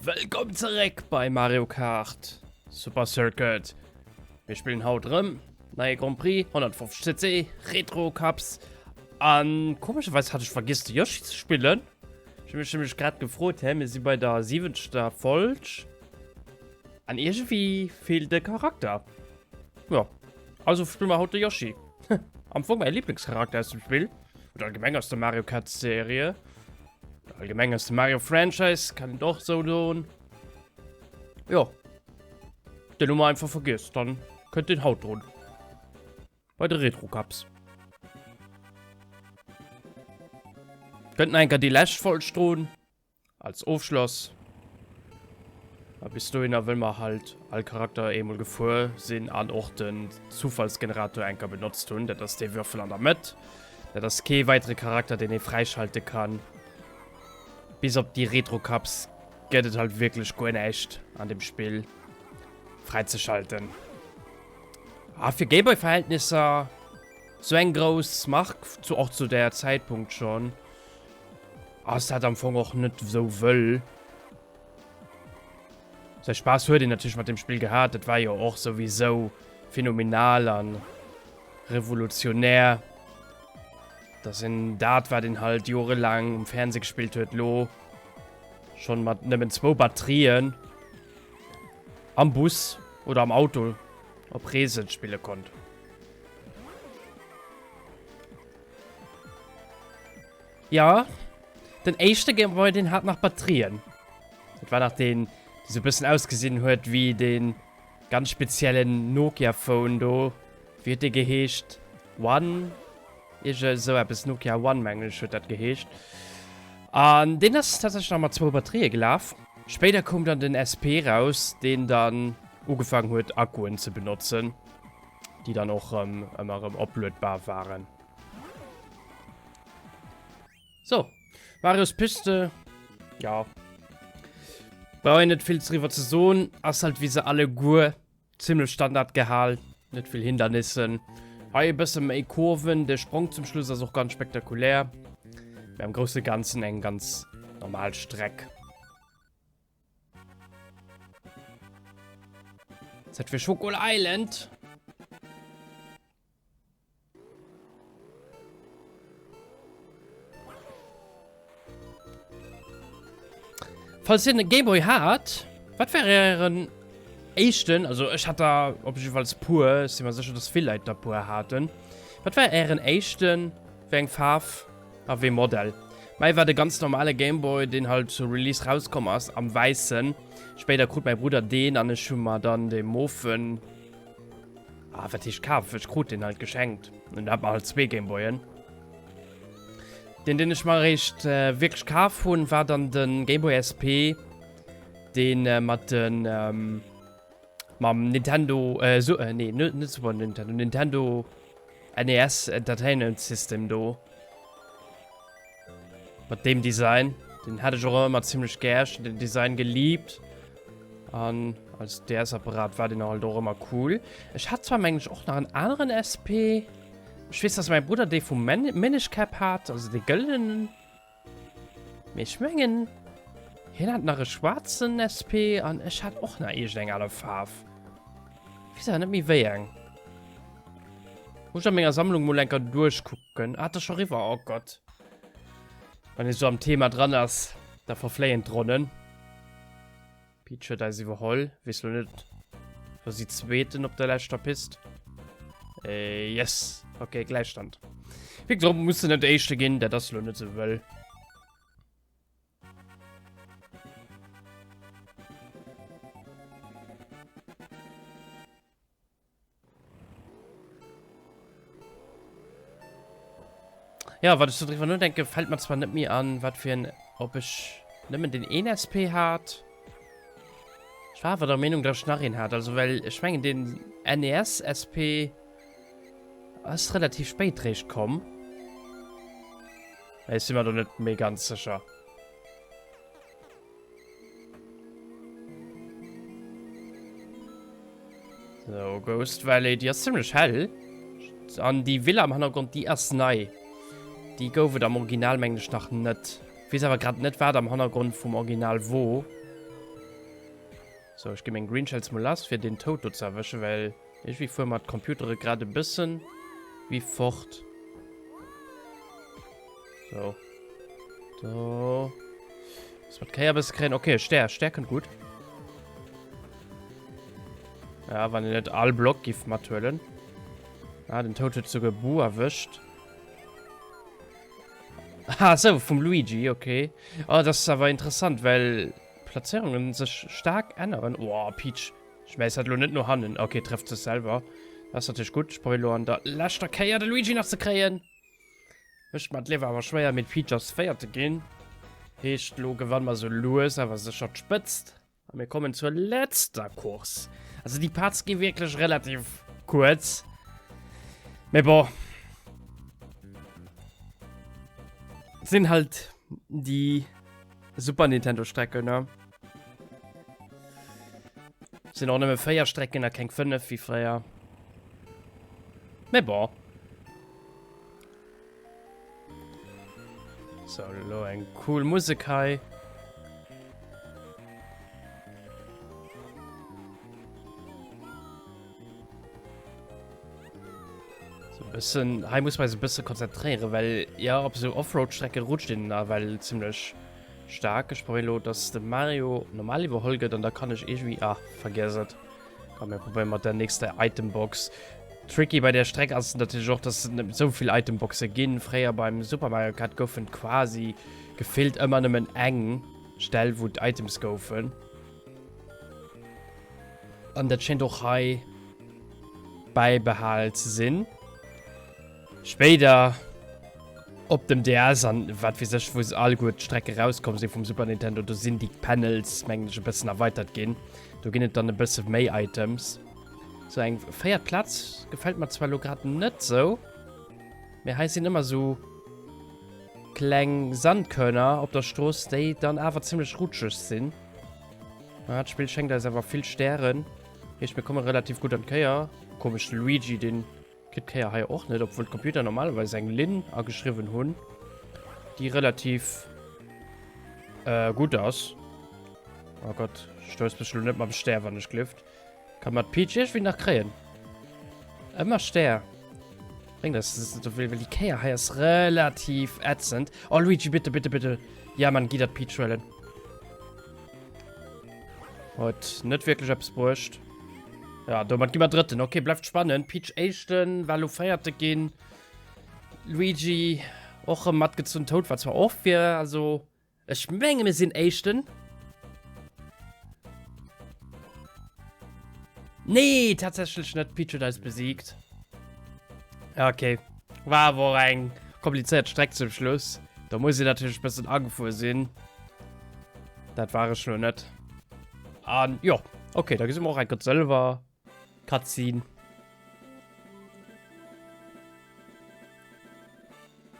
Wëllkomm zeréck bei Mario Kart Super Circuit. Mir spillen haut rëm neie Grand Prix 150 cc Retro Cups. An komescherweis hat ech vergiss de Yoshi ze spillen. Ech hu mech nämlech grad gefrot, hä mir si bei der siwenzegter Folg. An irgendwie fehlt de Charakter. Ja, also spielen wir heute Yoshi. Am Anfang mein Lieblingscharakter aus dem Spiel. Oder allgemein aus der Mario Kart Serie. Oder allgemein aus dem Mario Franchise, kann ich doch so tun. Ja. Den Nummer einfach vergisst, dann könnt den Haut drunter. Bei den Retro Cups. Könnten eigentlich die letzte Folge drohen. Als Ofschloss, a bis dohinner, wëll mer halt all Charakter eemol gefuer sinn an och den Zufallsgenerator enker benotzt hunn. Dat ass dee Würfel an der Mëtt. Dat ass kee weidere Charakter, deen ee fräischalte kann. Bis op déi Retrocups gëtt et halt wierklech guer näischt an dem Spill fräizeschalten. A fir Gameboy-Verhältnisser sou eng grouss Mark, zu och zu där Zäitpunkt schonn. Ass dat am Fong och net esou wëll. Säi Spaass huet een natierlech mat dem Spill gehat. Dat war jo och souwisou phänomenal a revolutionär, dass een dat, wat een halt jorelaang um Fernseh gespillt huet, elo schonn mat nëmmen zwou Batterien am Bus oder am Auto op Reese spille konnt. Ja, den éischte Gameboy, deen hat nach Batterien. Dat war nach den, die so e bëssen ausgesinn huet wéi den ganz speziellen Nokia-Phone do. Wéi huet dee geheescht? One? Ierge esou eppes. Nokia One, mengen ech, huet dat geheescht. An deen ass tatsächlech nach mat zwou Batterië gelaf. Spéider koum dann den SP raus, deen dann ugefaangen huet, Akkuen ze benotzen. déi dann och rëm ëmmer rëm opluedbar waren. So, Marios Piste, ja. Brauch een net vill driwwer ze soen, ass halt wéi se alleguer, zimmlech Standard gehal, net vill Hindernissen. Hei e bësse méi Kurven, de Sprong zum Schluss ass och ganz spektakulär, mä am grousse Ganzen eng ganz normal Streck. Ist das für Schokol Island? Falls ihr einen Gameboy habt, was wäre euren echten, also ich hatte da auf jeden Fall pur, ich bin mir sicher, dass viele Leute da pur hatten. Was wäre euren echten, wegen Farbe? A wéi Modell? Mäi war de ganz normale Gameboy, deen halt zur Release rauskomm ass, am wäissen. Spéider krut mäi Brudder deen an ech hu mer dann de mofen, ah wat heescht kaf, ech krut deen halt geschenkt an do hat mer halt zwee Gameboyen. Deen deen ech mer eréischt wierklech kaf hunn, war dann de Gameboy SP, deen mat de mam Nintendo, nee net Super Nintendo, Nintendo. NES Entertainment System do. Mat dem Design. Den hätt ech och ëmmer zimlech gär. Ech hunn den Design geliebt. An als DS-Apparat war den halt och ëmmer cool. Ech hat zwar, meng ech, och nach en aneren SP. Ech weess, dass mäi Brudder dee vum Minish Cap hat, also dee gëllenenen. Mee ech mengen, hien hat nach e schwaarzen SP an ech hat och nach iergendeng aner Faarf. Weess awer net méi wéi eng. Muss ech a menger Sammlung mol enker duerchkucken. Ah, et ass scho riwwer, oh Gott. Wann ee sou am Thema dran ass, da verfléien d'Ronnen. Peach huet eis iwwerholl. Wees lo net, wo si zweeten op der leschter Pist. Äh, yes. Okay, Gleichstand. Wie gesagt, muss net echte ginn, dat ass lo net so wëll. Ja, wat ech so driwwer nodenken, fällt mer zwar net méi an, wat fir en, ob ech nëmmen den een SP hat. Ech war awer der Meenung, dat ech nach een hat, also well ech mengen den NES SP ass relativ spéit réischt komm. Ech si mer do net méi ganz sécher. So, Ghost Valley, die ass ziemlich hell. An die Villa am Hannergrund, die ass nei. Die gouf et am Original, meng ich, nach net. Ich weiß aber gerade net, wat am Hannergrund vum Original wo. So, ich gebe meinen Green Shells mal lass, für den Tod do zu erwischen, weil... Irgendwie fuer mer d'Computere grad e bëssen wi fort. So. Do. Muss mer d'Kéier bësse kréien. Okay, Stär. Stär kënnt gutt. Ja, wann en net all Block giff mathuelen. Ah, den Toad huet souguer Bu erwëscht. Ah, so, vum Luigi, okay. Oh, das ist aber interessant, well Platzierungen sech stark änneren. Oh, Peach. Schmäiss dat elo net no hannen. Ok, trëfft sech selwer. Dat ass natierlech gutt. Ech probéieren elo an der leschter Kéier de Luigi nach ze kréien. Mécht mer d'Liewe awer schwéier, mee d'Peach ass Véiert ginn. Heescht, elo gewanne mer esou lues awer sécher d'Spëtzt. A mir kommen zur letzter Course. Also déi Parts gi wierklech relativ kuerz. Mee bon. Sinn halt déi. Super Nintendo Strecken, ne? Sind auch nëmme 4 Strecken a keng 5 wie fréier. Me bon. So, lo eng cool Musik hei. Bisschen, hier muss man sich ein bisschen konzentrieren, weil ja, auf so Offroad-Strecke rutscht den da weil ziemlich stark. Ich probiere, dass der Mario normal überholt wird und da kann ich irgendwie. Ah, vergessen. Komm, wir probieren mit der nächsten Itembox. Tricky bei der Strecke ist natürlich auch, dass es nicht so viele Itemboxen gehen. Früher beim Super Mario Kart goufen quasi gefehlt immer nur eng Stelle, wo die Items goufen. An dat schéint och hei bäibehal ze sinn. Spéider op dem DS an wat weess ech, wou se alleguer d'Strecke rauskomm si vum Super Nintendo, do sinn déi Panels, mengen ech, e bëssen erweitert ginn. Do ginn et dann e bësse méi Items. Sou eng véiert Plaz gefält mer zwar elo grad net sou, mee hei sinn ëmmer sou kleng Sandkörner op der Strooss, déi dann awer zimmlech rutscheg sinn. Ah, das Spiel schenkt eis awer vill Stären. Heescht, mir komme relativ gut an d'Kéier. Komesch, de Luigi, den kritt d'Kéier hei och net, obwuel d'Computer normalerweis eng Linn ageschriwwen hunn, déi relativ äh, gutt ass. Oh Gott, stouss mech elo net mam Stär, wann ech glifft. Kann man Peach irgendwie nach kréien? Immer Stär. Bring das, das ist, weil die Käier hier ist relativ ätzend. Oh, Luigi, bitte, bitte, bitte. Ja, man, geh das Peach holen. Hat nicht wirklich etwas gebracht. Ja, damit gehen wir dritten. Okay, bleibt spannend. Peach ersten, Valo vierte gehen. Luigi auch im Matt gezogen. Toad war zwar auch für, also Ech mengen mir sinn éischten. Nee, tatsächlich net. Peach huet eis besiegt. Ja, okay. War awer och eng kompliziert Streck zum Schluss. Da muss ich natürlich ein bisschen angefuhr sinn. Dat war ech lo net. An jo, okay, da gesi mer och eng Gott Sëlwer. Cutscene.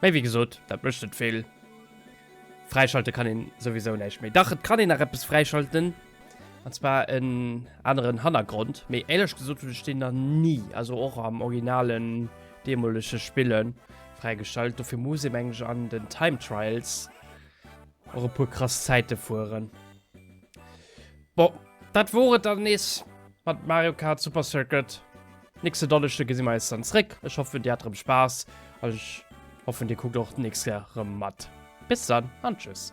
Mee wéi gesot, dat mécht net vill. Fräischalte kann een souwisou näischt méi. Dach, et kann een nach eppes fräischalten. An zwar en aneren Hannergrond. Mee éierlech gesot hunn ech deen nach ni, also och am originalen, deemolege Spillen, fräigeschalt. Dofir muss ee meng ech an den Time Trials och e puer krass Zäite fueren. Bon, dat wor et dann nees mat Mario Kart Super Circuit. Nächste Donneschde gesi mer eis dann zréck. Ech hoffen, dir hat rëm Spaass an ech hoffen, dir kuckt och d'nächst Kéier rëm mat. Bis dann an tschüss.